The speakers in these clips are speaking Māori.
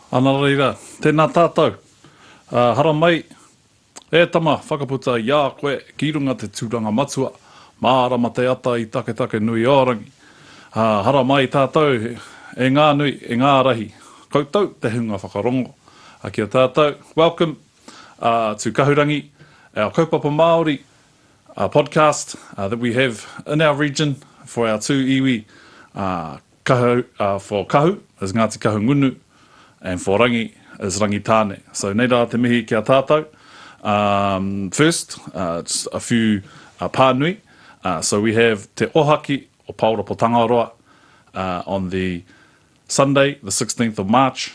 Ana reira, tēnā tātou. Haramai, e tama, whakaputa i a koe ki runga te tūranga matua, mārama te ata i Taketakenui-o-rangi. Haramai tātou e ngā nui, e ngā rahi, koutou te hunga whakarongo. Ki a tātou, welcome. a Tu Kahurangi, our Kaupapa Māori podcast that we have in our region for our two iwi, for Kahu is Ngāti Kahungunu and for Rangi is Rangitāne. So nei rā te mihi ki a tātou. First, just a few pānui. So we have Te Ohaki o Pāora Pōtangaroa on the Sunday, the 16th of March,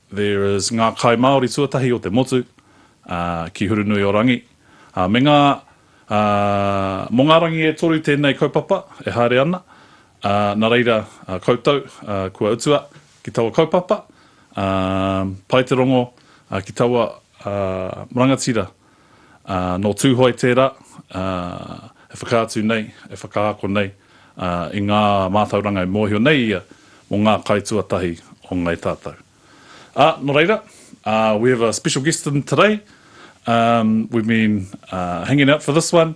There is ngā kai Māori tuatahi o te motu, ā, ki Hurunui-o-rangi, ā, me ngā, ā, mō ngā rangi e toru tēnei kaupapa e haere ana, ā, nā reira, ā, koutou, ā, kua utua ki taua kaupapa, ā, pai te rongo, ā, ki taua, ā, rangatira. Nō Tūhoe tērā e whakaatu nei, e whakaako nei i ngā mātauranga e mōhio nei ia mō ngā kai tuatahi o Ngāi Tātau. Ā, nō reira, we have a special guest in today, we've been hanging out for this one,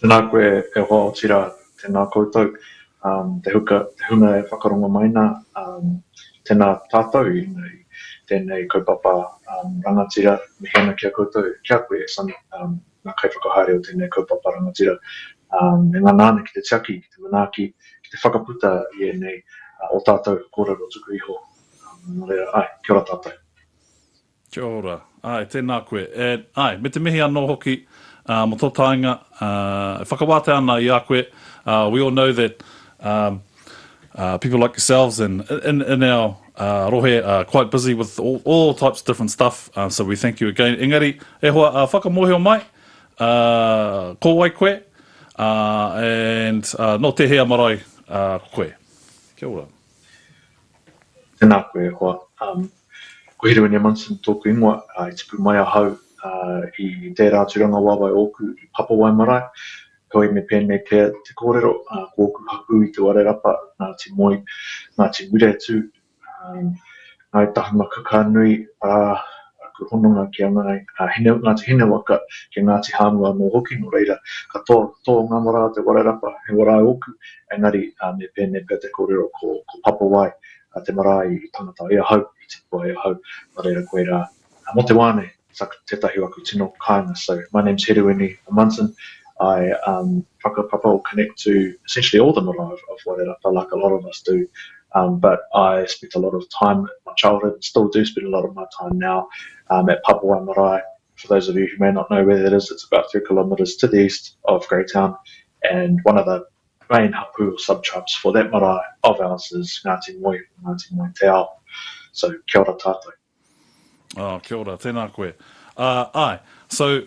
Tēnā koe e hoa otira tēnā koutou te huka te hunga e whakarongo mai nā tēnā tātou i tēnei kaupapa rangatira mihi ana ki a koutou ki a koe Sonny ngā kaiwhakahaere o tēnei kaupapa rangatira e ngana ana ki te tiaki ki te manaaki ki te whakaputa i ēnei o tātou kōrero tuku iho nō reira ae kia ora tātou. Kia ora. Āe, tēnā koe. E, āe, me te mihi anō hoki, ā, mō tō taenga, ā, e whakawātea ana i a koe, ā, we all know that, ā, ā, people like yourselves and, in, in our, ā, rohe are quite busy with all, all types of different stuff, ā, so we thank you again. Engari, e hoa, ā, whakamōhio mai, ā, ko wai koe, ā, and, ā, nō tēhea marae, ā, koe? Kia ora. Tēnā koe e hoa. Um, Ko Hiruene Munson tōku ingoa, i tipu mai ahau i tērā tūranga waewae ōku i Papawae marae, heoi me pēnei pea te kōrero, ko ōku hapū i Te Warerapa, Ngāti Moe, Ngāti Muretu, Ngāi Tahumakakānui, arā, aku hononga ki a Ngāti Hinewaka, ki a Ngāti Hāmu anō hoki, nō reira, katoa tō ngā marae o Te Warerapa he warae ōku, engari me pēnei pea te kōrero ko Papawae a te marae i tangata e ahau, i tipua e ahau, nō reira koe rā. Mō te wā nei, suck, tētahi o aku tino kāinga, so my name's Heruini Munson, I um whakapapa or connect to essentially all the marae of of Wairarapa like a lot of us do um but I spent a lot of time in my childhood and still do spend a lot of my time now um at Papawai marae, for those of you who may not know where that is, it's about three kilometres to the east of Greytown and one of the main hapū or subtribes for that marae of ours is Ngāti Moe or Ngāti Moe Te Ao. So, kia ora tātou. Oh, kia ora, tēnā koe. Uh, aye, so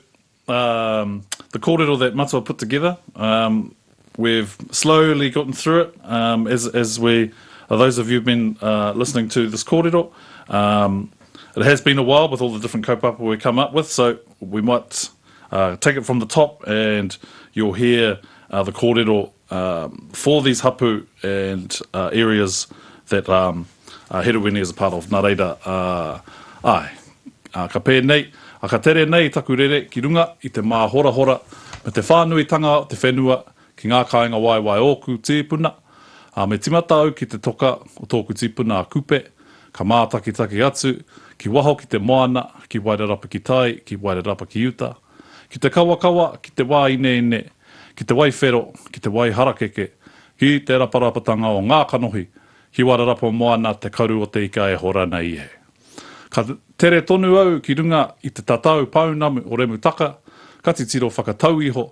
um, the kōrero that Matua put together, um, we've slowly gotten through it um, as, as we, uh, those of you who've been uh, listening to this kōrero, um, it has been a while with all the different kaupapa we come up with, so we might take it from the top and you'll hear the kōrero for these hapu and areas that Herewini is a part of, nā reira, āe. Ka pēnei, ka tere nei taku rere ki runga i te māhorahora me te whānuitanga o te whenua Ki ngā kāinga waewae ōku tīpuna, ā, me timata au ki te toka o tōku tipuna a Kupe, ka mātakitaki atu, ki waho ki te moana, ki Wairarapa ki tai, ki Wairarapa ki uta, ki te kawakawa, ki te wā ineine, ki te wai whero, ki te wai harakeke, ki te raparapatanga o ngā kanohi, ki Wairarapa moana te karu o te ika e hora nei e. Ka tere tonu au ki runga i te tatau pounamu o Remutaka, ka titiro whakatau iho,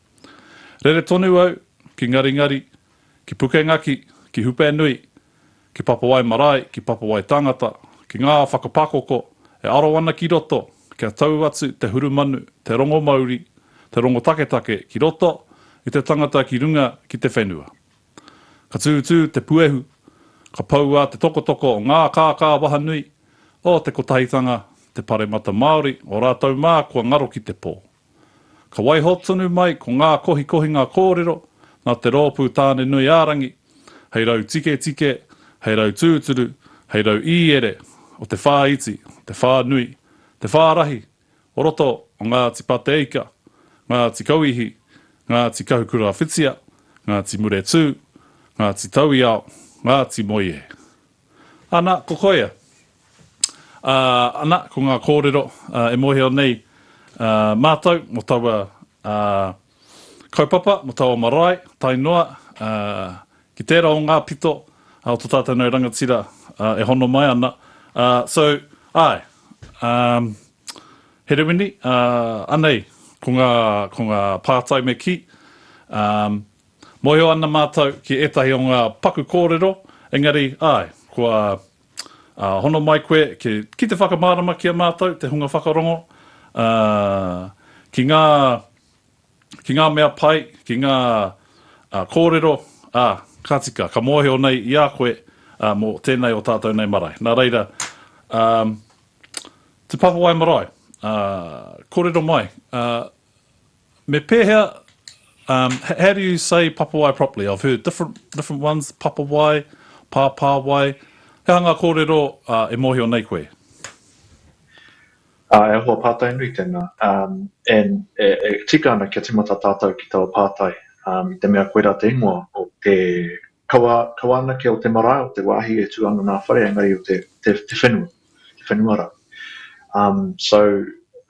Rere tonu au ki Ngaringari, ki Pukengaki, ki Hupenui, ki Papawai marae, ki Papawai tangata, ki ngā whakapakoko e aro ana ki roto kia tau atu te hurumanu, te rongo mauri, te rongo taketake ki roto i te tangata ki runga ki te whenua. Ka tūtū te puehu, ka poua te tokotoko o ngā kākā wahanui, o te kotahitanga, te paremata Māori, o rātou mā kua ngaro ki te pō. Ka waiho tonu mai ko ngā kohikohinga kōrero nā te Rōpū Tāne Nui ā-Rangi, hei rau tiketike, hei rau tūturu, hei rau īere o te whāiti, te whānui, te whārahi o roto o Ngāti Pateika, Ngāti Kauihi, Ngāti Kahukurawhitia, Ngāti Muretū, Ngāti Tauiao, Ngāti Moe. Ana, ko koia. Ā, ana, ko ngā kōrero e mōhio nei mātou mō taua kaupapa, mō taua marae, tae noa ki tērā o ngā pito o tō tātou nei rangatira e hono mai ana. So, āe, Herewini, anei, ko ngā pātai me kī. Mōhio ana mātou ki ētahi o ngā paku kōrero, engari, āe, kua hono mai koe ki te whakamārama ki a mātou te hunga whakarongo, ā, ki ngā, ki ngā mea pai, ki ngā kōrero, ā, ka tika, ka mōhio nei i a koe mō tēnei o tātou nei marae. Nā reira, ā, Te Papa Wae Marae, ā, kōrero mai, ā, Me pēhea, um, how do you say papawai properly? I've heard different, different ones, papawai, pāpāwai. He aha ngā kōrero uh, e mōhio nei koe? Uh, e hoa pātai nui tēnā. Um, and e, e tika ana kia timata tātou ki taua pātai. Um, I te mea koirā te ingoa o te kawa, kawa anake o te marae, o te wāhi e tū ana nā whare, engari o te, te, te whenua. i whenua rau. Um, so,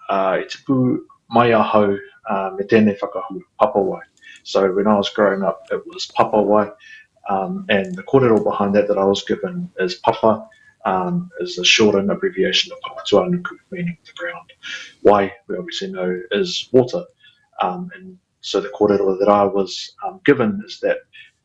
uh, i tipu mai ahau uh, me tēnei whakahua, papawai. So, when I was growing up, it was papawai, um, and the kōrero behind that that I was given is papa, um, is a shortened abbreviation of papatuanuku, meaning the ground. Wai, we obviously know, is water. Um, and so the kōrero that I was um, given is that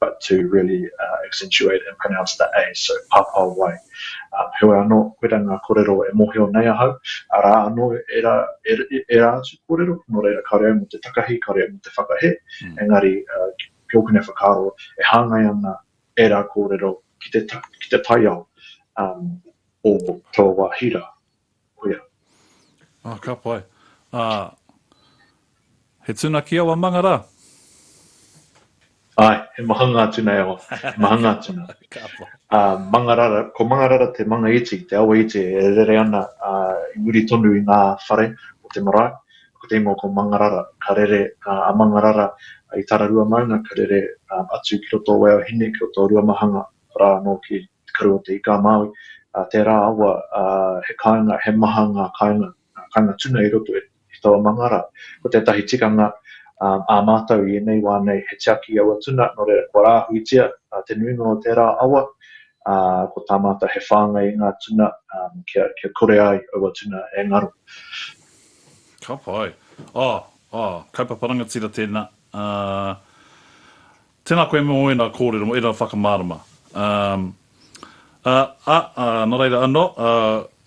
but to really accentuate and pronounce the a, so Papawai. Heoi anō, koirā ngā kōrero e mōhio nei ahau, arā anō ērā, ērā atu kōrero, nō reira kāore au mō te takahi, kāore au mō te whakahē, engari ki ōku nei whakaaro, e hāngai ana ērā kōrero ki te, ki te taiao o taua hira, kuia. Ah, ka pai. Ah, he tuna ki awa manga ra? Ai, he mahanga atu nei awa. He mahanga atu na. ka pai. Ah, Mangarara, ko Mangarara te manga iti, te awa iti e rere ana ah, i muri tonu i nga whare o te marae. Ko te ingoa ko Mangarara. Ka rere ah, a Mangarara i Tararua maunga, ka rere ah, atu ki roto o Waiohine, ki roto o Ruamahanga, ra no ki. te karu o te ika a Māui, ā, tērā awa, ā, he kāinga, he maha ngā kāinga, ngā kāinga tuna i roto i taua manga rā. Ko tētahi tikanga, ā, ā mātou i ēnei wā nei, he tiaki i aua tuna, nō reira, kua rāhuitia, ā, te nuinga o tērā awa, ā, ko tā mātou he whāngai i ngā tuna, ā, kia, kia kore ai aua tuna e ngaro. Ka pai. Oh, oh, kaupapa rangatira tēnā. Uh, Tēnā koe mō ēnā kōrero, mō ēnā whakamārama. Um, a, a, a, nā reira anō, a,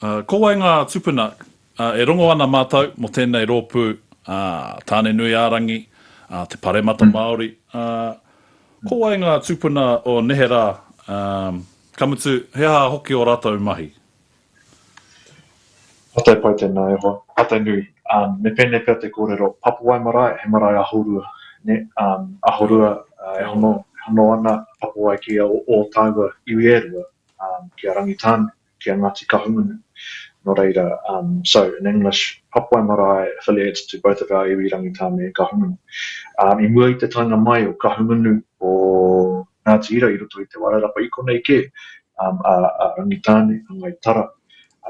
a, ko wai ngā tupuna a, e rongo ana mātou mō tēnei rōpū, a, Tāne-nui-ā-rangi, a, te Paremata Māori, a, ko wai ngā tupuna o neherā, um, ka mutu, he aha hoki ō rātou mahi? Patai pai tēnā e hoa. Patai nui. Um, me pēnei pea te kōrero, Papuai marae, he marae ahorua. Nē? Um, ahorua, uh, e hono, e hono ana Papuai ki a ō tāua iwi e rua, um, ki a Rangitāne, ki a Ngāti Kahungunu. Nō reira, um, so, in English, Papuai marae affiliates to both of our iwi Rangitāne and Kahungunu. Um, i mua i te taenga mai o Kahungunu, o Ngāti Hira i roto i Te Wairarapa i konei kē, a Rangitāne, a Ngai Tara,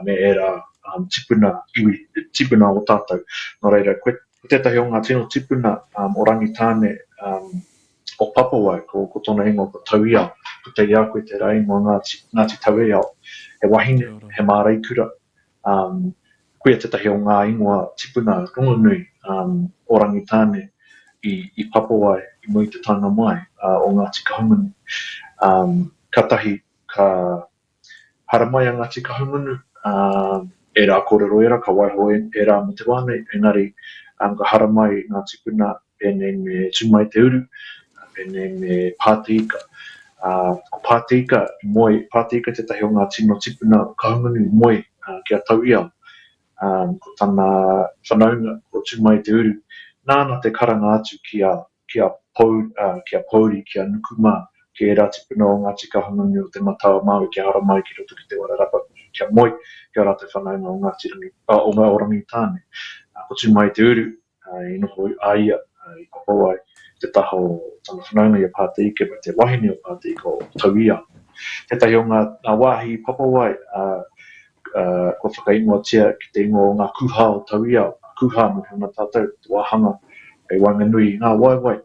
me ērā tipuna iwi, tipuna o tātou. Nō reira, ko tētahi o ngā tino tipuna o Rangitāne, o Papawai, ko tōna ingoa ko Tauiao, ko Teiakoe tērā ingoa, Ngāti Taueiao. He wahine, he māreikura, Um, koia tētahi o ngā ingoa tipuna rongonui um, o Rangitāne i, i papo ai i mua i te taenga mai uh, o Ngāti Kahungunu. Um, ka tahi, ka haramai a Ngāti Kahungunu, um, e rā kōrero e rā, ka waiho e, e rā mō te wānei, engari um, ka haramai ngā tipuna pēnei me Tūmaiteuru, pēnei me Pāteika. Ā, ko Pāteika i moe, Pāteika tētahi o ngā tino tipuna o Kahungunu i moe ki a Tauiao. Ā, ko tana whanaunga, ko Tūmaiteuru, nāna te karanga atu ki a, ki a Pou, ā, ki a Pouri, ki a Nuku mā, ki ērā tipuna o Ngāti Kahungunu o Te Matau-a-Māui kia haramai ki roto ki Te Wairarapa, kia moe ki ō rātou whanaunga o Ngāti Rangi, ā, o Rangitāne. Ā, ko Tūmaiteuru, I noho a ia i kopou ai te taha o tana whanaunga i a Pāteika me te wahine o Pāteika o Tauiao. Tētahi o ngā wāhi i papawai kua whakaingoatia ki te ingoa o ngā Kūhā o Tauiao, ngā Kūhā nō Huna tātou, te wāhanga hei waenganui i ngā waewae,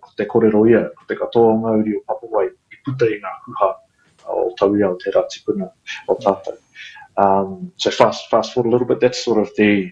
ko te korero ia, ko te katoa o ngā uri o papawai i puta i ngā Kūhā o Tauiao tērā tipuna o tātou. So fast forward a little bit, that's sort of the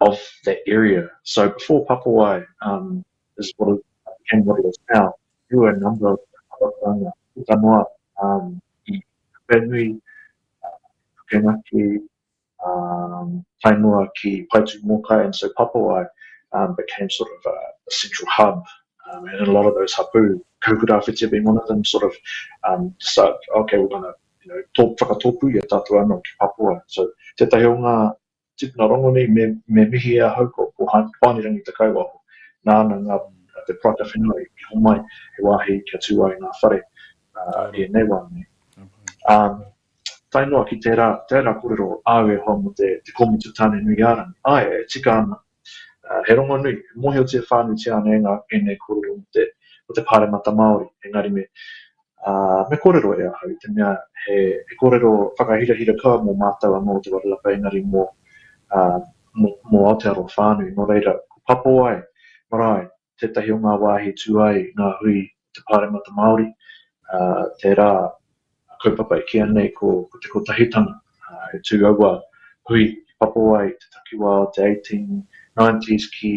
of that area. So before Papawai um, is what it became what it is now, there were a number of Hawatanga, puta noa, um, i Whenui, Pukenaki, um, Tainoa ki Paitu Mokai, and so Papawai um, became sort of a, a central hub. Um, and a lot of those hapu, Kaukurawhitia being one of them, sort of um, decide, okay, we're going to you know, tō, whakatōpū i a tātou anō ki Papua. So tētahi o ngā Tipuna Rongoni, me, me mihi e ahau ko, ko Hoani-rangi Te Kaiwaho, nāna ngā, te paraka whenua i, i homai, he wāhi kia tū ai ngā whare, uh, e nei wā nei. Um, tae noa ki tērā, tērā korero āu e hoa mo te, te kōmitu tāne nui a rangi, ai, e tika ana, uh, he rongo nui, mōhiotia whānuitia ana e ngā, e nei korero mo te, mo te pāremata Māori, engari me, Ā, me kōrero e ahau i te mea he, he kōrero whakahirahira koa mō mātou anō o Te Wairarapa engari mō, ā, mō, mō Aotearoa whānui. Nō reira, ko Papowae marae tētahi o ngā wāhi i tū ai ngā hui o te Pāremata Māori, ā, tērā kaupapa e kī ana nei ko, ko Te Kotahitanga, ā, e tū aua hui ki Papowae i te takiwā o te 1890s ki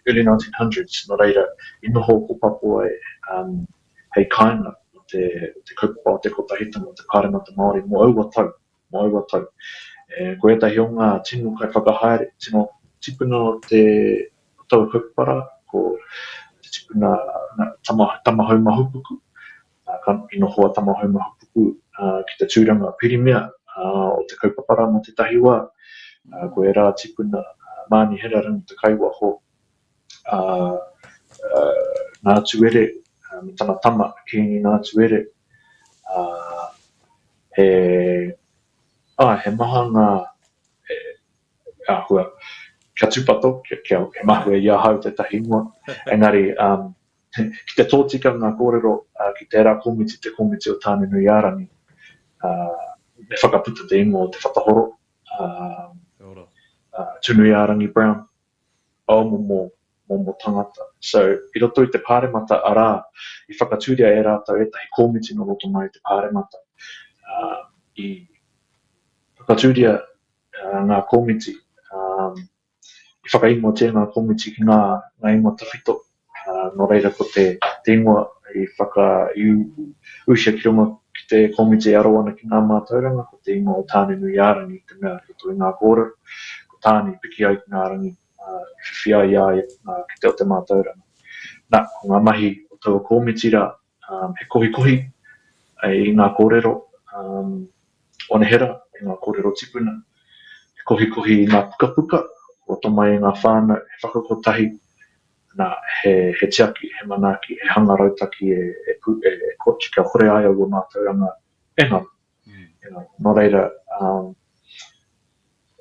early 1900s, nō reira, i noho ko Papowae, ā, hei kāinga o te kaupapa o te kotahitanga o te Pāremata Māori mō aua tau, mō aua tau. E, ko ētahi o ngā tino kaiwhakahaere, tino tipuna o te o taua kaupapa rā, ko te tipuna na, tama, Tamahau Mahupuku, a, ka noho a Tamahau Mahupuku a, ki te tūranga pirimia a, o te kaupapa rā mō tētahi wā, a, ko ērā tipuna a, Māni Herarangi Takaiwaho, a Ngātuere me tana tama Kīngi Ngātuere, ā, he, āe, he maha ngā, he, he āhua kia tūpato, kia, kia, kia mahue i ahau tētahi ingoa, engari, ā, ki te tōtika ngā kōrero ā, ki tērā komiti, te komiti o Tāne-nui-ā-rangi, ā, me whakaputa te ingoa o Te Whatahoro, ā, ā, Tūnui-ā-rangi Brown. aomomo momo tangata. So, i roto i te Pāremata arā, i whakatūria e rātou ētahi kōmiti nō roto mai i te Pāremata. I whakatūria ngā kōmiti, i whakaingoatia ngā kōmiti ki ngā ingoa tawhito. Nō reira, ko te ingoa i whakaiuusia ki runga ki te komiti e aro ana ki ngā mātauranga, ko te ingoa o Tāne-nui-ā-rangi i te mea i roto i ngā kōrero, ko Tāne i piki ai ki ngā rangi, i whiwhi ai i a ia ki te o te mātauranga. Nā, ko ngā mahi o taua komiti rā. he kohikohi i ngā kōrero anehera, i ngā kōrero tipuna, he kohikohi i ngā pukapuka, roto mai i ngā whānau, he whakakotahi, nā, he, he tiaki, he manaaki, he hanga rautaki e, e, e, e kooti kia kore ai aua mātauranga e ngaro. Mm. E ngaro. Nō reira, um,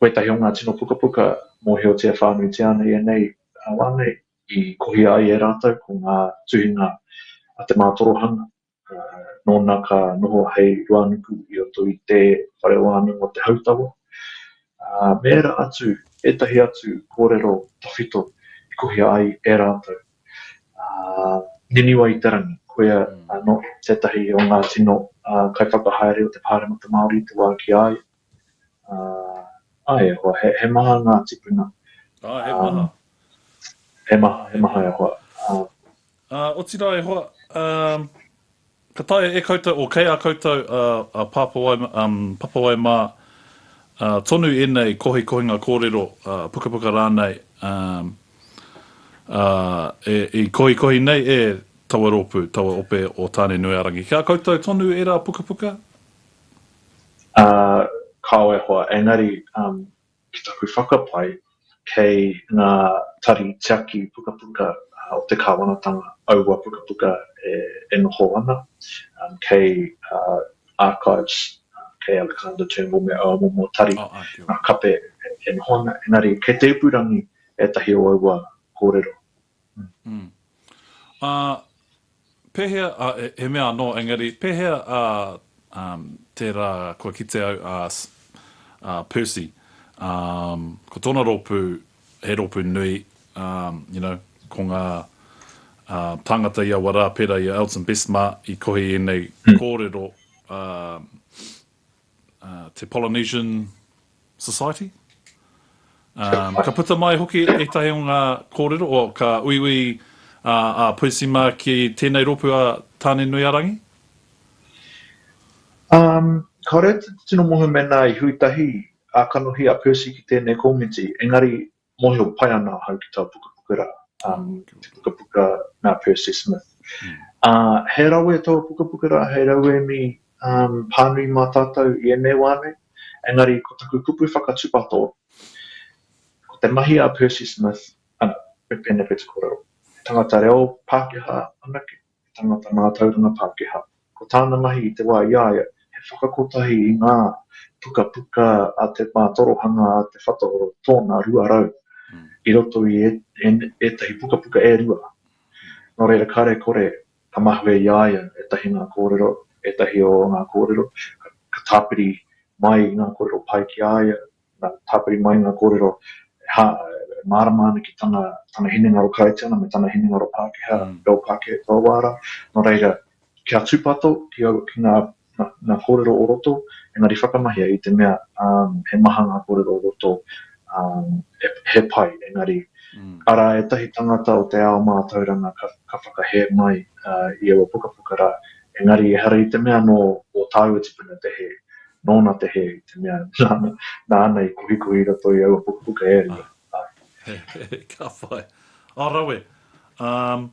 koe tahi o ngā tino pukapuka, mōhiotia whānui te ana i anei, wānei, i kohia ai e rātou ko ngā tuhinga a te mātorohanga, ā, nōna ka noho hei ruānuku i roto i te whare wānanga o te hautawa, ā, me ērā atu, ētahi atu kōrero tawhito i kohia ai e rātou. Ā, Niniwa i te Rangi, koia anō tētahi o ngā tino kaiwhakahaere o te Pāremata Māori i te wā ki a ia. Uh, ai, e hoa, he, he maha ngā tipuna. Ah, he um, maha. He maha, he maha e hoa. Uh, uh, otirā e hoa, um, ka taia e koutou, o kei a koutou a, a Papawai, um, Papawai mā, uh, tonu ēnei kohi kohinga kōrero, uh, pukapuka rānei, um, uh, e, i kohi kohi nei e taua rōpū, taua ope o Tāne Nui a Rangi. Kia koutou tonu e rā pukapuka, Ā, kāore hoa, engari, um, ki taku whakapae, kei ngā tari tiaki pukapuka o te kāwanatanga aua pukapuka e, e noho ana, um, kei, ā, Archives, kei Alexander Turnbull me aua momo tari, ngā kape e, e noho ana, engari, kei te ipurangi ētahi o aua kōrero, Ā, pēhea, ā, he mea anō, engari, pēhea, ā, tērā kua kite au, ā, ā, Percy, ā, ko tōna rōpū, he rōpū nui, ā, you know, ko ngā, ā, tāngata i aua rā, pērā i a Elton Bestmar, i kohi ēnei kōrero, ā, te Polynesian Society. Ka puta mai hoki ētahi o ngā kōrero, o ka uiui a Puisi mā ki tēnei rōpū a Tāne-nui-a-rangi? Kāore te tino mohe mēnā i hui tahi a kanohi a Puisi ki tēnei komiti, engari mōhio pai ana ahau ki tā pukapuka rā, um, te pukapuka nā Percy Smith. Mm. Uh, he rawe taua pukapuka rā, hei rauemi um, pānui mā tātou i ēnei wā nei, engari ko taku kupu whakatupato, ko te mahi a Percy Smith, ana, me pēne pēta korero, tangata reo Pākehā anake, he tangata mātauranga Pākehā. Ko tāna mahi i te wā i a ia, he whakakotahi i ngā pukapuka a te mātorohanga a Te Whatahoro tōna 200, i roto i ētahi pukapuka e rua. Nō reira, kāre kore ka mahue i a ia ētahi ngā kōrero, ētahi o ngā kōrero, ka tāpiri mai i ngā kōrero pai ki a ia, Nā, tāpiri mai ngā kōrero, e hā, e mārama ana ki tana, tana hinengaro Kāitiana me tana hinengaro Pākehā, reo Pākehā kua wāra, nō reira, kia tūpato ki aua, ki ngā, ngā, ngā kōrero o roto, engari whakamahia i te mea, ā, he maha ngā kōrero o roto, ā, he, he pai, engari, arā ētahi tāngata o te ao mātauranga ka, ka whakahē mai, ā, i aua pukapuka rā, engari ehara i te mea nō ō tāua tipuna te hē, nōna te hē, te mea, nāna, nāna i kohikohi i roto i aua pukapuka e rua. Āe. He, he, he, ka whai. Ā, rawe. Um,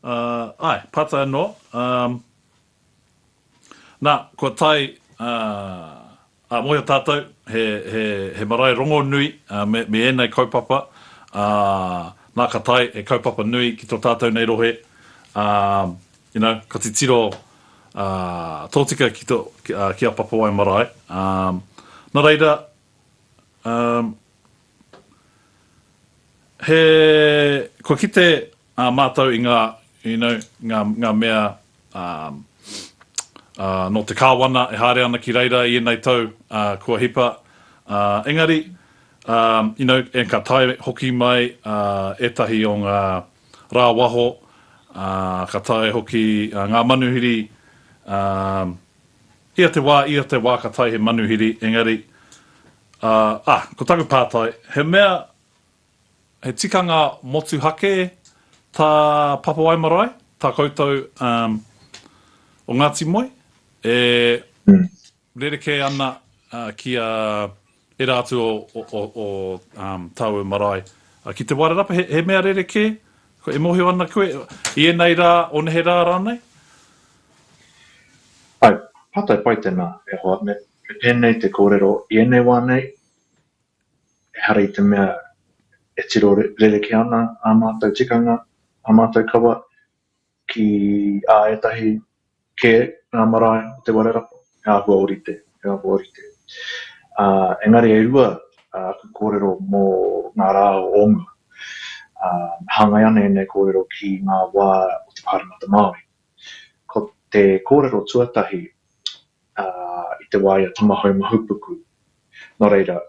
uh, āe, pata anō. Um, nā, kua tae, uh, ā, mōhio tātou, he, he, he marae rongonui uh, me, me ēnei kaupapa, ā, uh, nā ka tae he kaupapa nui ki tō tātou nei rohe, ā, uh, You know, ka titiro tōtika ki a Papawai marae. Na reira, he, kua kite mātou i ngā, you know, ngā mea nō te Kāwana e haere ana ki reira i ēnei tau kua hipa. Engari, you know, ka tae hoki mai ētahi o ngā rāwaho, ā, ka taea hoki ngā manuhiri, ā, ia te wā, ia te wā ka taea he manuhiri, engari, ā, ā, ko taku pātai, he mea, he tikanga motuhake tā Papawae Marae, tā koutou, ā, o Ngāti Moe, e. Rerekē ana ki a era atu o tāu marae. Ki te Wairarapa, he mea rerekē? E mohio ana koe, i enei rā, o nehe rā rānei? Āe, pātai pai tēnā, e hoa, me pēnei te kōrero, i enei wā nei, ehara i te mea e tiro rerekē ana ā mātou tikanga, ā mātou kawa, ki ā ētahi kē ngā marae o Te Warerapa, he āhua orite, he āhua orite. Ā, engari e rua aku kōrero mō ngā rā o mua. Ā, hāngai ana ēnei kōrero ki ngā wā o te Pāremata Māori. Ko te kōrero tuatahi, ā, i te wā i a Tamahau Mahupuku, nō reira,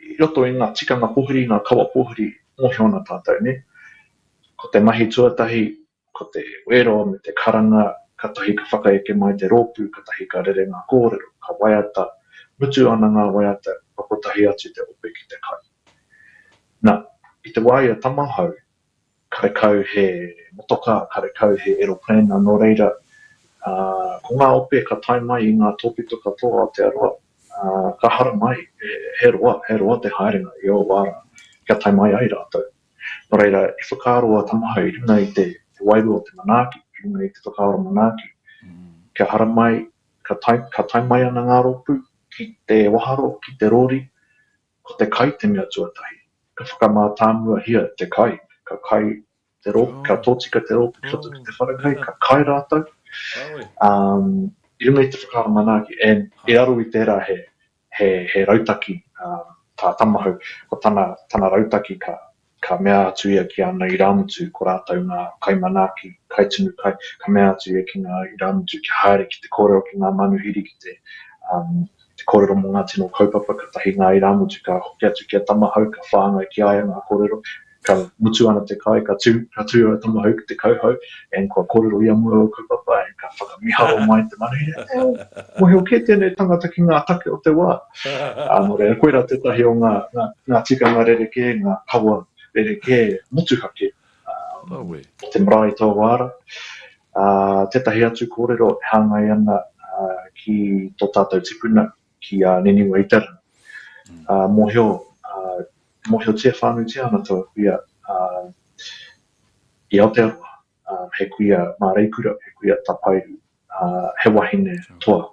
i roto i ngā tikanga pōhiri, ngā kawa pōhiri, mōhio ana tātou, nē? Ko te mahi tuatahi, ko te wero me te karanga, katahi ka whakaeke mai te rōpū, katahi ka rere ngā kōrero, ka waiata, mutu ana ngā waiata, kua kotahi atu te ope ki te kai. Na, i te wā ia tamahau, Karekau he motoka, karekau he eroplena, nō reira, ko ngā ope ka tae mai i ngā tōpito katoa o Aotearoa, ka haramai, he roa, he roa te haerenga i ō wā rā, kia tae mai ai rātou. Nō reira, i whakaaro a Tamaha i runga i te wairua o te manaaki, i runga i te whakaaro manaaki, kia haramai, ka tae mai ana ngā rōpū ki te waharo, ki te rori, Ko te kai te mea tuatahi. Ka whakamātāmuahia te kai, ka kai te rōpū, ka tōtika te rōpū ki roto ki te wharekai, ka kai rātou. Um, I runga i te whakaaro manaaki, and i raro i tērā he, he, he rautaki um, tā Tamahau, ko tana, tana rautaki ka, Ka mea atu ia ki ana irāmutu, ko rātou ngā kaimanaaki, kaitunu kai, ka mea atu ia ki ngā irāmutu kia haere ki te kōrero ki ngā manuhiri ki te, um, te kōrero mō ngā tino kaupapa, katahi ngā irāmutu ka hoki atu ki a Tamahau, ka whāngai ki a ia ngā kōrero, ka mutu ana te kai, ka tū, ka tū a Tamahau ki te kauhau, and kua kōrero ia mō aua kaupapa, and ka whakamiharo mai te manuhiri, e au, mōhio kē tēnei tangata ki ngā take o te wā. Ā, nō reira, koirā tētahi o ngā, ngā, ngā tikanga rerekē, ngā kawa rerekē motuhake, ā, Rawe. o te marae tō wāra. Ā, tētahi atu kōrero e hāngai ana, ā, ki tō tātou tipuna, ki a Niniwa Itara. Ā, mōhio, ā, mōhiotia whānuitia ana taua kuia, ā, i Aotearoa, he kuia māreikura, he kuia tapairu, he wahine toa,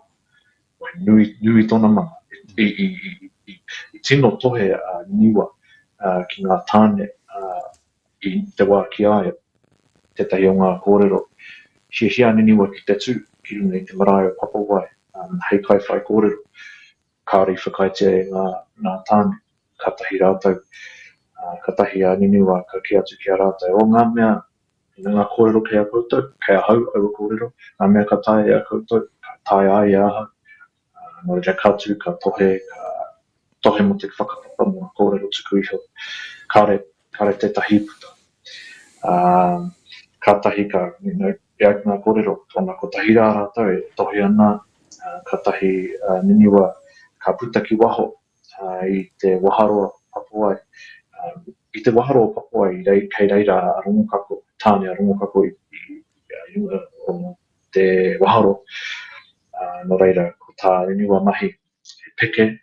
wahine nui tōna mana. I tino tohe a Niwa ki ngā tāne i te wā ki a ia, tētahi o ngā kōrero, hiahia ana Niwa ki te tū ki runga i te marae o Papawai hei kaiwhaikōrero. Kāore i whakaaetia e ngā nā Tāne, kātahi rātou, ā, kātahi a Niniwa ka kī atu ki a rātou, o ngā mea, me ngā kōrero kei a koutou, kei ahau aua kōrero, ngā mea ka taea e a koutou, ka taea ai e ahau, ā, nō reira ka tū, ka tohe, ka tohe mō te whakapapa, mō ngā kōrero tuku iho, kāore, kāore tētahi i puta. Ā, kātahi ka, you know, E ai ki ngā kōrero, tōna kotahi rā rātou e tohe ana, kātahi a Niniwa ka puta ki waho i te waharoa Papoai. I te waharoa o Papoai, kei reira a Rongokako, tāne a Rongokako i runga o te waharoa, nō reira, ko tā Niniwa mahi he peke,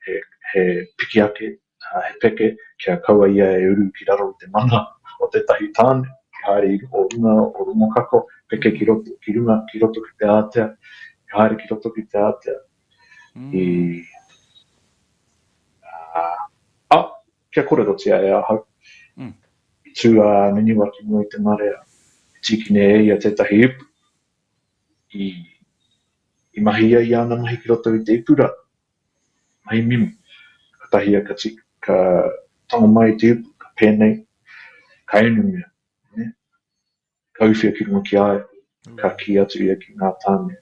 he piki ake He peke kia kaua ia e uru ki raro i te mana o tētahi tāne, ki haere i o runga o Rongokako, peke ki roto, ki runga, ki roto ki te ātea, i haere ki roto ki te ātea, i, ā, ā, kia kōrerotia e ahau. I tū a Niniwa ki mua i te marea, i tīkine e ia tētahi ipu, i, i mahi ia i ana mahi ki roto i te ipu rā, Hei mimi, katahi a Kati, ka tonga mai te upu, ka pēnei, ka inu mea, nē. Ka uwhia ki runga ki a ia, ka kī atu ia ki ngā tāne,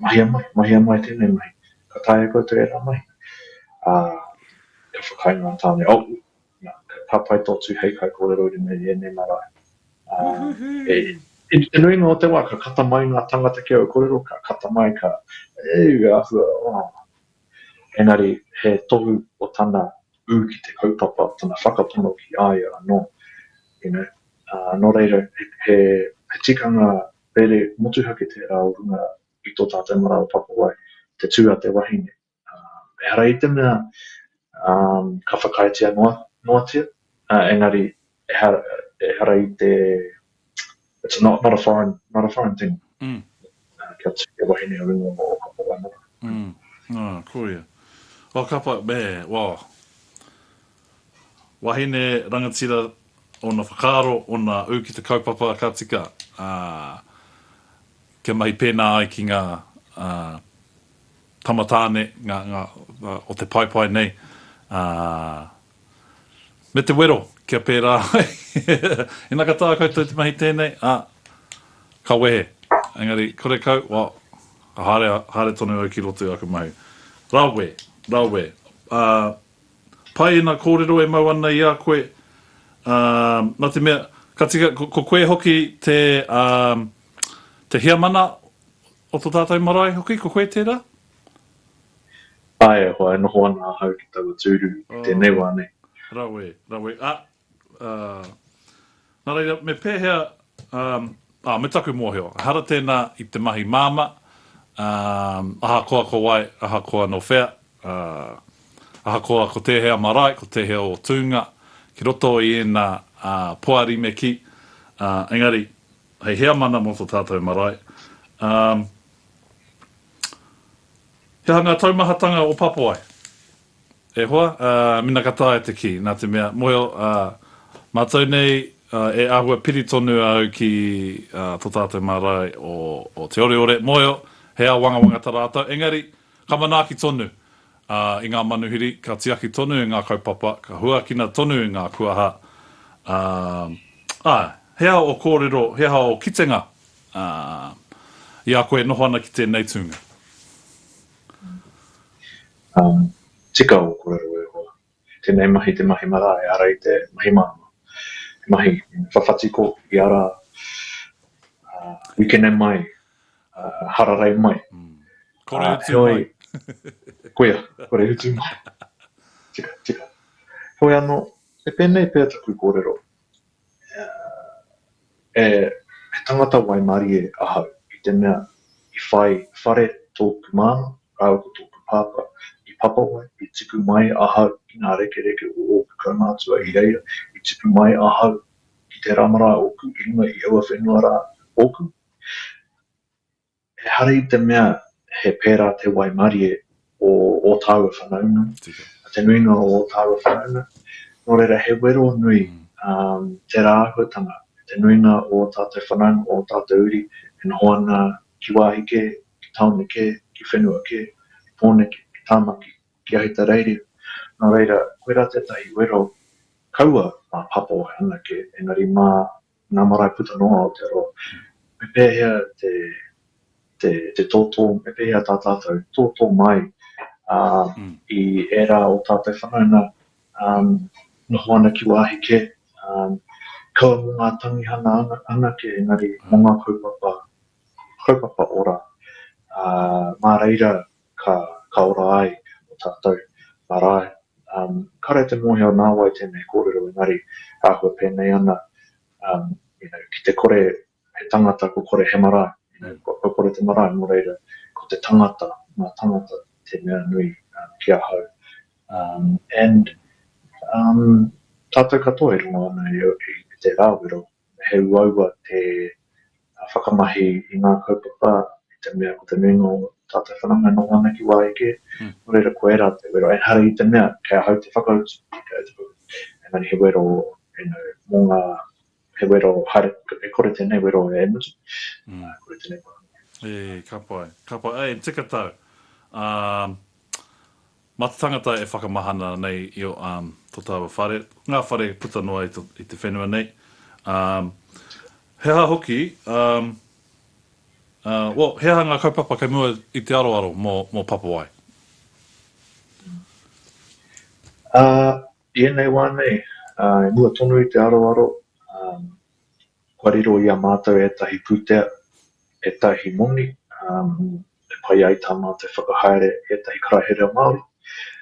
Mahia mai, mahia mai tēnei mahi, ka taea koutou ērā mahi? Ā, ka whakaae ngā tāne, Oh, Ka pai tō tū hei kaikōrero i runga i ēnei marae. Woohoo! Te nuinga o te wā, ka kata mai ngā tāngata ki au kōrero, ka kata mai, ka, Euu, e āhua, oh. Engari, he tohu o tana ū ki te kaupapa, tana whakapono ki a ia anō. You know? Nō reira, he tikanga rere motuhake tērā o runga i tō tātou marae o Pakowai, te tū a te wahine, Ehara i te mea ka whakaaetia noatia, engari ehara i te, it's not a foreign, not a foreign thing kia tū te wahine o runga o Kapa Waimara. Ā, ko ia. O Kapa, me, well, wahine, rangatira, ōna whakaaro, ōna ū ki te kaupapa ka tika, ā, kia mahi pēnā ai ki ngā tamatāne ngā, ngā, o te paepae nei, ā, me te wero kia pērā ai, ina ka taea koutou te mahi tēnei, ā, ka wehe. Engari, kore kau, well, haere, haere tonu au ki roto i aku mahi. Rawe, rawe, ā, pai ēnā kōrero e mau ana i a koe, ā, nā te mea, ka tika, ko, ko koe hoki te, ā, te heamana O to tatou marae hoki ko koe tera? Ae, ahakoa e noho ana ahau ki taua tūru i tēnei wā nei. Rawe, rawe, a, a, na reira, me pēhea, a, a, me taku mōhio, ehara tēnā i te mahi māmā, a, ahakoa ko wai, ahakoa no whea, a, ahakoa ko tēhea marae, ko tēhea o tūnga, ki roto i ēnā, a, poari me kī, a, engari, Hei heamana mō tō tātou marae. Um. He aha ngā taumahatanga o Papoai? E hoa, uh, mena ka taea te kī, nā te mea, mōhio, uh, mātou nei, uh, e āhua piri tonu au ki, uh, tō tātou marae o, o Te Oreore, mōhio, he ao wangawanga ta rātou, engari, ka manaaki tonu, Ā, i ngā manuhiri, ka tiaki tonu ngā kaupapa, ka huakina tonu ngā kuaha, ā, ā, he aha ō kōrero, he aha ō kitenga, ā, i a koe e noho ana ki tēnei tūnga? Ā, tika ō kōrero e hoa, Tēnei mahi te mahi marae, ara i te mahi māmā. He mahi whawhatiko i ara wikene mai, hararei mai. Kore utu mai. Koia, kore utu mai. Tika, tika. Hoi ano, e pēnei pea taku kōrero. E, he tangata waimarie ahau, i te mea, i whai whare tōku māmā rāua ko tōku pāpā i Papawai, i tipu mai ahau ki ngā rekereke o ōku kaumātua i reira, i tipu mai ahau ki te rama rā ōku i runga i aua whenua rā ōku. Ehara i te mea he pērā te waimarie o ō tāua whanaunga, a te nuinga o ō tāua whanaunga, nō reira he wero nui tērā āhuatanga e te nuinga o ō tātou whanaunga, o ō tātou uri e noho ana ki wāhi kē, ki tāone kē, ki whenua kē, ki Pōneke, ki Tāmaki, ki Ahitereiria. Nō reira, koirā tētahi wero kaua mā Papawahi anake, engari mā Ngā marae puta noa o te roa. Me pēhea te tōtō, me pēhea tā tātou tōtō mai i ērā o tātou whanaunga noho ana ki wāhi kē, kaua mō ngā tangihanga anake engari mō ngā kaupapa ora, mā reira ka, ka ora ai e ono tātou marae. Um, kare te mōhio nā wai tēnei kōrero engari āhua pēnei ana, um, you know, ki te kore he tangata ko kore he marae, you know, ko, ko kore te marae, nō reira, ko te tangata, ngā tangata, te mea nui um, ki ahau. Um, and um, tātou katoa e rongo ana i, i, i te rāwero, He uaua te whakamahi i ngā kaupapa i te mea ko te nuinga o tātou whanau e noho ana ki wā eke, nō reira ko ērā te wero. Ehara i te mea kei ahau te whakautu, engari he wero mō ngā, he wero haere, e kore tēnei wero e mutu, e kore tēnei wero e mutu. Ka pai, ka pai. Āe, tika tau. Ā, Mā te tangata e whakamahana nei i o um, to taua whare, ngā whare puta noa i, to, i te whenua nei. Um, he aha hoki, um, uh, well, he aha ngā kaupapa kei mua i te aroaro mō, mō Papawai? Uh, I ēnei wā nei, uh, i mua tonu i te aroaro, um, Kua riro i a mātou ētahi pūtea, ētahi moni, e pai ai tā mātou whakahaere ētahi karaehe reo Māori,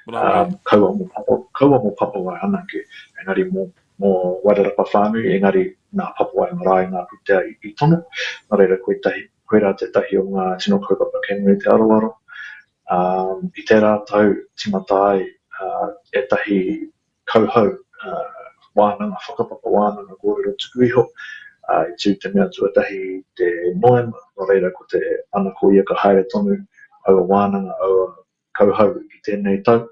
kaua mō Papua, kaua mō Papawae anake, engari mō, mō Wairarapa whānui, engari nā Papawae marae ngā pūtea i, i tono. Nō reira, kotahi, koirā tētahi o ngā tino kaupapa kei mua i te aroaro. I tērā tau tīmata ai ētahi kauhau wānanga, whakapapa wānanga kōrero tuku iho, i tū te mea tuatahi i te Noema, nō reira ko te ana ko ia ka haere tonu aua wānanga, aua kauhau i tēnei tau.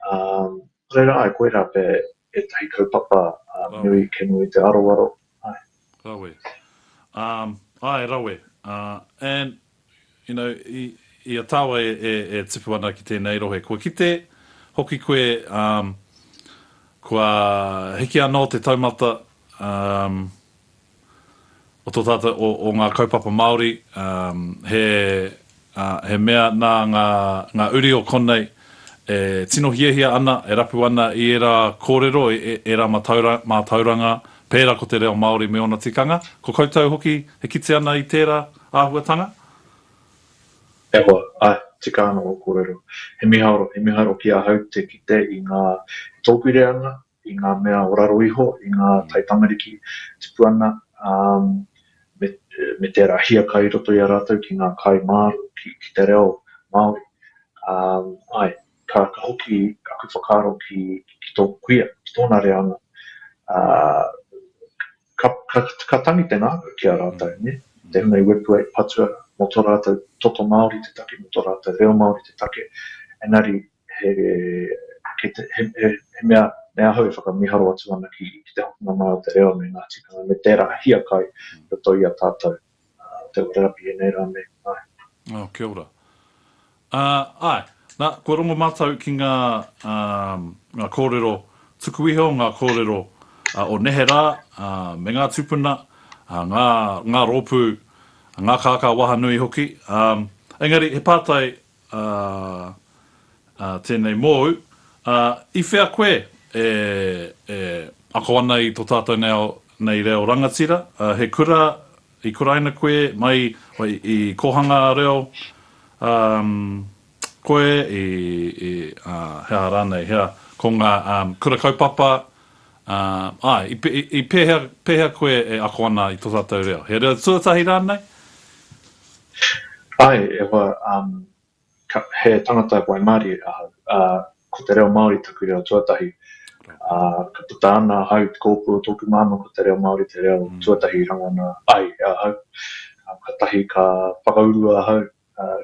Nō reira, āe, koirā pea ētahi kaupapa nui kē nui i te aroaro, Āe. Rawe. Um, āe, rawe. Uh, and, you know, i, i a tāua e, e, e tipu ana ki tēnei rohe, kua kite hoki koe, um, kua hiki anō te taumata, um, o tō tātou, o, o ngā kaupapa Māori, um, he, ā, he mea nā ngā, ngā uri o konei e tino hiahia ana, e rapu ana i ērā kōrero, i ērā matauranga, mātauranga, pērā ko te reo Māori me ōna tikanga. Ko koutou hoki e kite ana i tērā āhuatanga? E hoa, āe, tika ana ō kōrero. He mihaoro, he mihaoro ki ahau te kite i ngā, e tōpiri ana, i ngā mea o raro iho, i ngā taitamariki tipu ana, ā, me, me tērā hiaka i roto i a rātou ki ngā kai māro, ki, ki te reo Māori. Ā, āe, ka, ka hoki aku whakaaro ki, ki tōku kuia, ki tōna reanga, ā, Ka, ka, ka tangi te ngākau ki a rātou, nē, tēnei wepua i patua mō tō rātou toto Māori te take, mō tō rātou reo Māori te take, engari he, kei te, he, he, he mea, me ahau e whakamiharo atu ana ki, ki te hokinga mai o te reo me ngā tikanga, me tērā hiakai i roto i a tātou. Tau terapi e nei rā me āe. Oh, kia ora. Uh, ae, na, kua rongo matou ki nga, um, nga korero, tuku iho nga korero uh, o nehe ra, uh, me nga tupuna, uh, nga, nga ropu, nga kaka waha nui hoki. Um, engari, he patai Ā, ā, tēnei mōu, ā, i whea koe e, e ako ana i tō tātou nei ao, nei reo rangatira, ā, he kura i kuraina koe mai i, i kōhanga reo, ā, koe i, i, ā, he aha rānei, hea, ko ngā, ā, kura kaupapa, Ā, āe, i, i pēhea, pēhea koe e ako ana i tō tātou reo? He reo tuatahi rānei? Āe, e hoa, ā, ka, he tangata waimarie ahau, ā, ko te reo Māori taku reo tuatahi. Ā, ka puta ana ahau i te kōpū o tōku māmā ko te reo Māori te reo tuatahi i rangona ai e ahau. Ā, katahi ka whakaurua ahau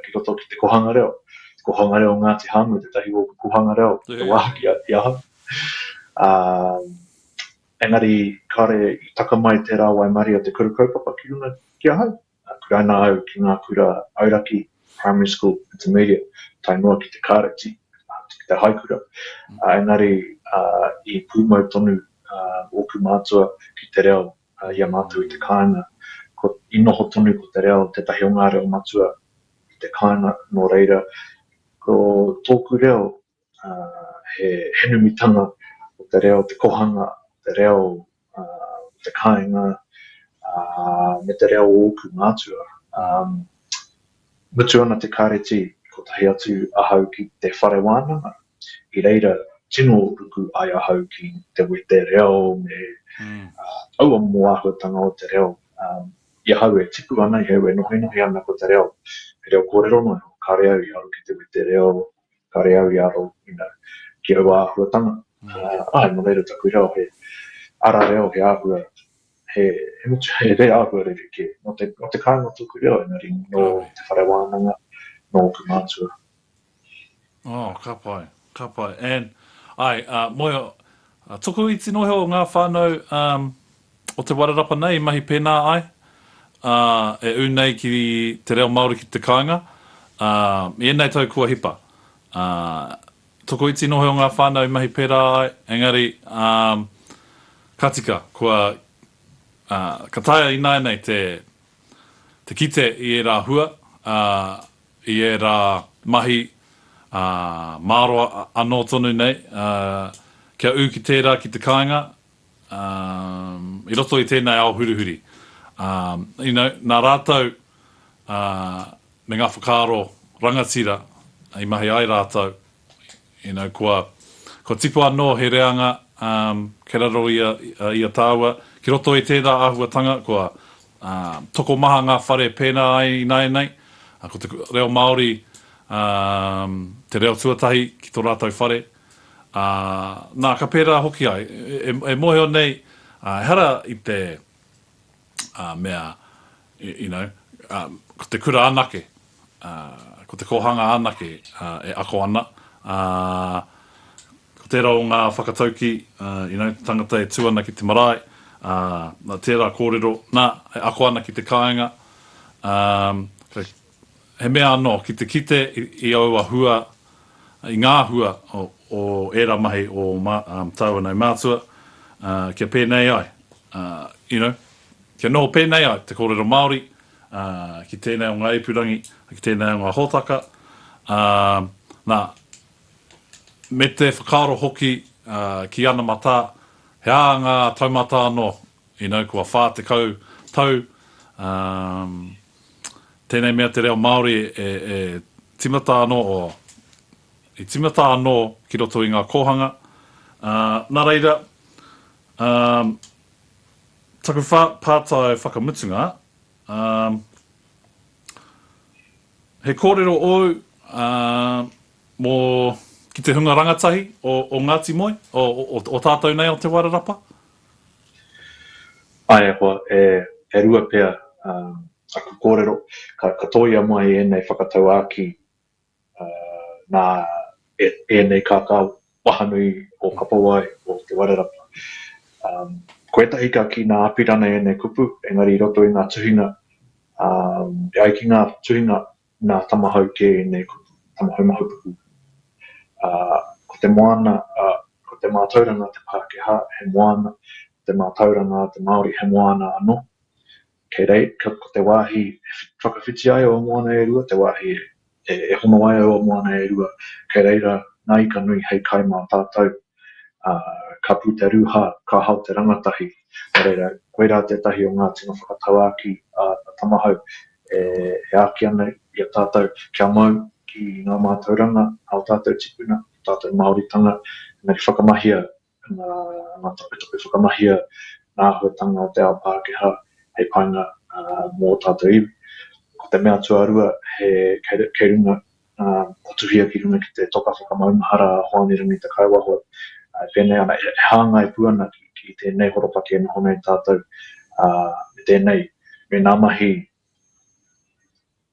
ki roto ki te Kohanga Reo. Te Kohanga Reo o Ngāti Hāmua, tētahi o ōku Kohanga Reo, ki te wāhaki i ahau. Ā, engari, kāore i taka mai tērā waimarie o te kura kaupapa ki runga ki ahau. Ā, kuraina au ki ngā kura auraki, primary school, intermediate, tae noa ki te kāreti, ā, ki te haikura. Ā, engari, ā, i pūmau tonu ōku mātua ki te reo a ia mātou i te kāinga. Ko, i noho tonu ko te reo tētahi o ngā reo matua i te kāinga, nō reira, ko tōku reo, ā, he, he numitanga o te reo, te kohanga o te reo, ā, o te kāinga, ā, me te reo o ōku mātua. Ā, mutu ana te kāreti, kotahi atu ahau ki te whare wānanga, I reira tino ruku ai ahau ki te wete reo me aua momo āhuatanga o te reo. I ahau e tipu ana, i ahau e nohinohi ana ko te reo, he reo kōrero noa iho, kāre au i aro ki te wete reo, kāre au i aro ki aua āhuatanga. Āe, nō reira taku reo he ara reo, he āhua, he motu, he reo āhua rerekē. Nō te kāinga tōku reo engari nō te whare wānanga, nō ōku mātua. Oh, ka pai, ka pai. And, ai, a, moe, a, tokoiti noa iho o ngā whānau um, o Te Wairarapa nei i mahi pēnā ai, a, e ū nei ki te reo Māori ki te kāinga, a, i ēnei tau kua hipa. A, tokoiti noa iho o ngā whānau i mahi pērā ai, engari, um, ka tika, kua, a, ka taea ināianei te, te kite i ērā hua, a, i ērā mahi, ā, māro anō tonu nei, ā, kia ū ki tērā, ki te kāinga, ā, i roto i tēnei ao hurihuri. Ā, you know, nā rātou, ā, me ngā whakaaro rangatira i mahi ai rātou, You know, kua, kua tipu anō he reanga kei raro i a, i a tāua. Ki roto i tērā āhuatanga, kua tokomaha ngā whare pērā ai ināianei. Ko te reo Māori te reo tuatahi ki tō rātou whare. Nā, ka pērā hoki ai. E, e mōhio nei, ehara i te, mea, you know, ko te kura anake, ko te kōhanga anake e ako ana, ā, ko tērā o ngā whakataukī, you know, tangata e tū ana ki te marae, ā, tērā kōrero, nā, e ako ana ki te kāinga, ā, He mea anō, ki te kite i aua hua, i ngā hua o ērā mahi o tāua nei mātua, kia pēnei ai, you know, kia noho pēnei ai te kōrero Māori ki tēnei o ngā ipurangi, ki tēnei o ngā hōtaka, nā, me te whakaaro hoki ki ana matā, he ānga taumata anō, you know, kua 40 tau, Tēnei mea te reo Māori e timata anō, o, i timata anō ki roto i ngā kōhanga, ā, nā reira, ā, taku whā, pātai whakamutunga, ā, he kōrero ōu, ā, mō, ki te hunga rangatahi o, o Ngāti Moe, o, o, o tātou nei o Te Wairarapa, Āe e hoa, e, e rua pea aku kōrero, ka, ka tōia mai ēnei whakatauākī nā ēnei kākau wahanui o Kapowai, o Te Warerapa. Ko ētahi ka kī nā Apirana ēnei kupu, engari i roto i ngā tuhinga, e ai ki ngā tuhinga Nā Tamahau kē ēnei ko Tamahau Mahupuku. Ā, ko te moana, ā, ko te mātauranga a te Pākehā he moana, ko te mātauranga a te Māori he moana anō. Kei rei, ka, ko te wāhi e whakawhiti ai aua moana e rua, te wāhi e, e hono ai aua moana e rua, kei reira ngā ika nui hei kai mā tātou. ā, ka puta ruha, ka hao te rangatahi. Nō reira, koirā tētahi o ngā tino whakatauākī a Tamahau e āki ana i a tātou kia mau ki ngā mātauranga a ō tātou tipuna, ō tātou Māoritanga, engari whakamahia ngā taputapu, whakamahia ngā āhuatanga o te ao Pākehā hei painga mō ō tātou iwi. Ko te mea tuarua, he kei runga ā, ka tuhia ki runga ki te toka whakamaumahara a Hoani Rangi Te Kaewahoe, ā, e pēnei ana, e hāngai pū ana ki, ki tēnei horopaki e noho nei tātou, ā, me tēnei, me ngā mahi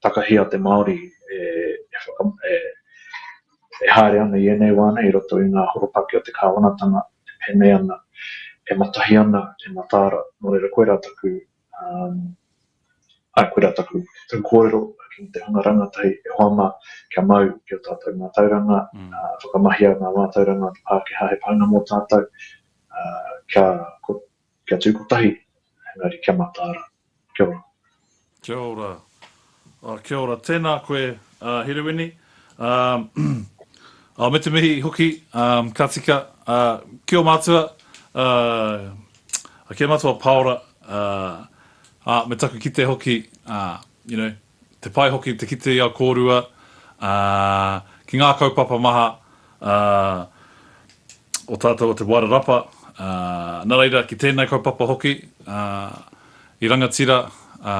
takahi a te Māori e, e whaka, e, e haere ana i ēnei wā nei i roto i ngā horopaki o te Kāwanatanga, e pēnei ana, e matahi ana, e mataara, nō reira koirā taku Āe, koirā taku kōrero ki te hunga rangatahi e hoa mā, kia mau ki ō tātou mātauranga, whakamahia ngā mātauranga o te Pākehā he painga mō tātou, kia tū kotahi, engari kia mataara. Kia ora. Kia ora. Oh kia ora, tēnā koe Herewini. Umm me te mihi hoki ka tika ki o mātua ki a mātua paora me taku kite hoki you know te pai hoki te kite i a kōrua ki ngā kaupapa maha Ā, o tātou o Te Wairarapa, ā, nā reira, ki tēnei kaupapa hoki, ā, i rangatira, ā,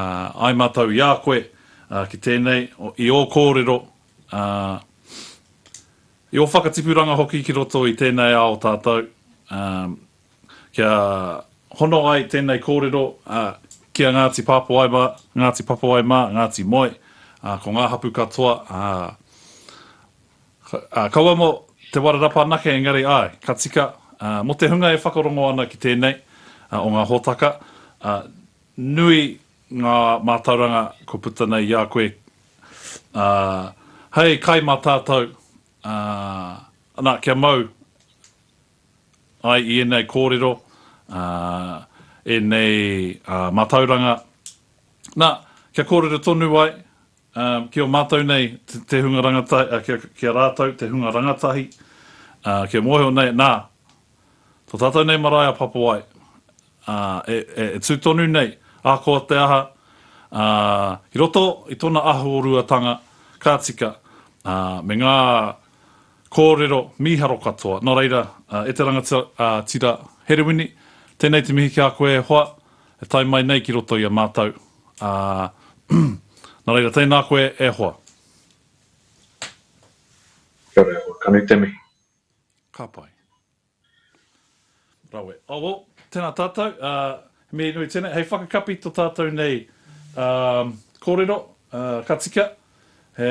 ai mātou i a koe, ā, ki tēnei, i ō kōrero, ā, i ō whakatipuranga hoki ki roto i tēnei ao tātou, ā, kia hono ai tēnei kōrero, ā, ki a Ngāti Pāpāwai mā, Ngāti Papawai mā, Ngāti Moe, ā, ko ngā hapū katoa, ā, Kaua mo Te Warerapa anake engari ae, ka tika, mo te hunga e whakarongo ana ki tenei o nga hotaka, nui nga matauranga kua puta nei i a koe hei kai ma tatou, ana kia mau ai i enei korero, enei matauranga, na, kia korero tonu ai Ā, ki a mātou nei te hunga rangatahi, ā, ki, ki a rātou te hunga rangatahi, ā, kia mōhio nei, nā, tō tātou nei marae a Papawae, ā, e, e, e tū tonu nei, ahakoa te aha, ā, i roto i tōna ahuoruatanga ka tika, ā, me ngā kōrero mīharo katoa. Nō reira, ā, e te rangati, ā, tira Herewini, tēnei te mihi ki a koe e hoa, e tae mai nei ki roto i a mātou. Ā, nā reira, tēnā koe e hoa. Kia ora e hoa, ka nui te mihi. Ka pai. Rawe. Oh well, tēnā tātou, ā, he mihi nui tēnei. Hei whakakapi to tātou nei, ā, kōrero, ā, ka tika, he.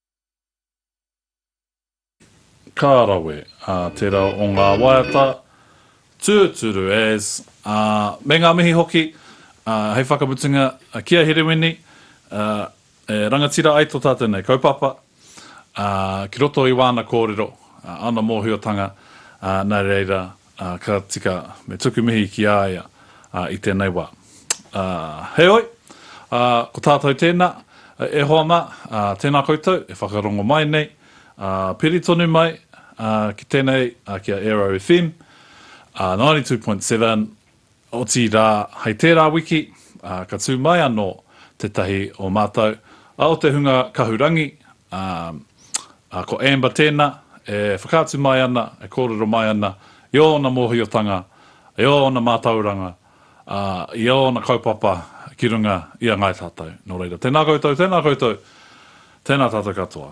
Ka rawe, ā, tērā o ngā waiata tūturu as, ā, me ngā mihi hoki, ā, hei whakamutunga, ki a Herewini, ā, e rangatira ai tō tātou nei kaupapa, ā, ki roto i wāna kōrero, ā, āna mōhiotanga, ā, nā reira, Ā, ka tika me tuku mihi ki a ia i tēnei wā. Ā, heoi, ā, ko tātou tēnā, e hoa mā, ā, tēnā koutou e whakarongo mai nei, ā, piri tonu mai, ā, ki tēnei, ā, ki a Aero FM, ā, 92.7. Otirā, hei tērā wiki, ka tū mai anō tētahi o mātou, a o te hunga Kahurangi, ā, ko Amber tēnā, e whakaatu mai ana, e kōrero mai ana i ōna mōhiotanga, i ōna mātauranga, ā, i ōna kaupapa ki runga i a Ngāi Tātou. Nō reira, tēnā koutou, tēnā koutou, tēnā tātou katoa.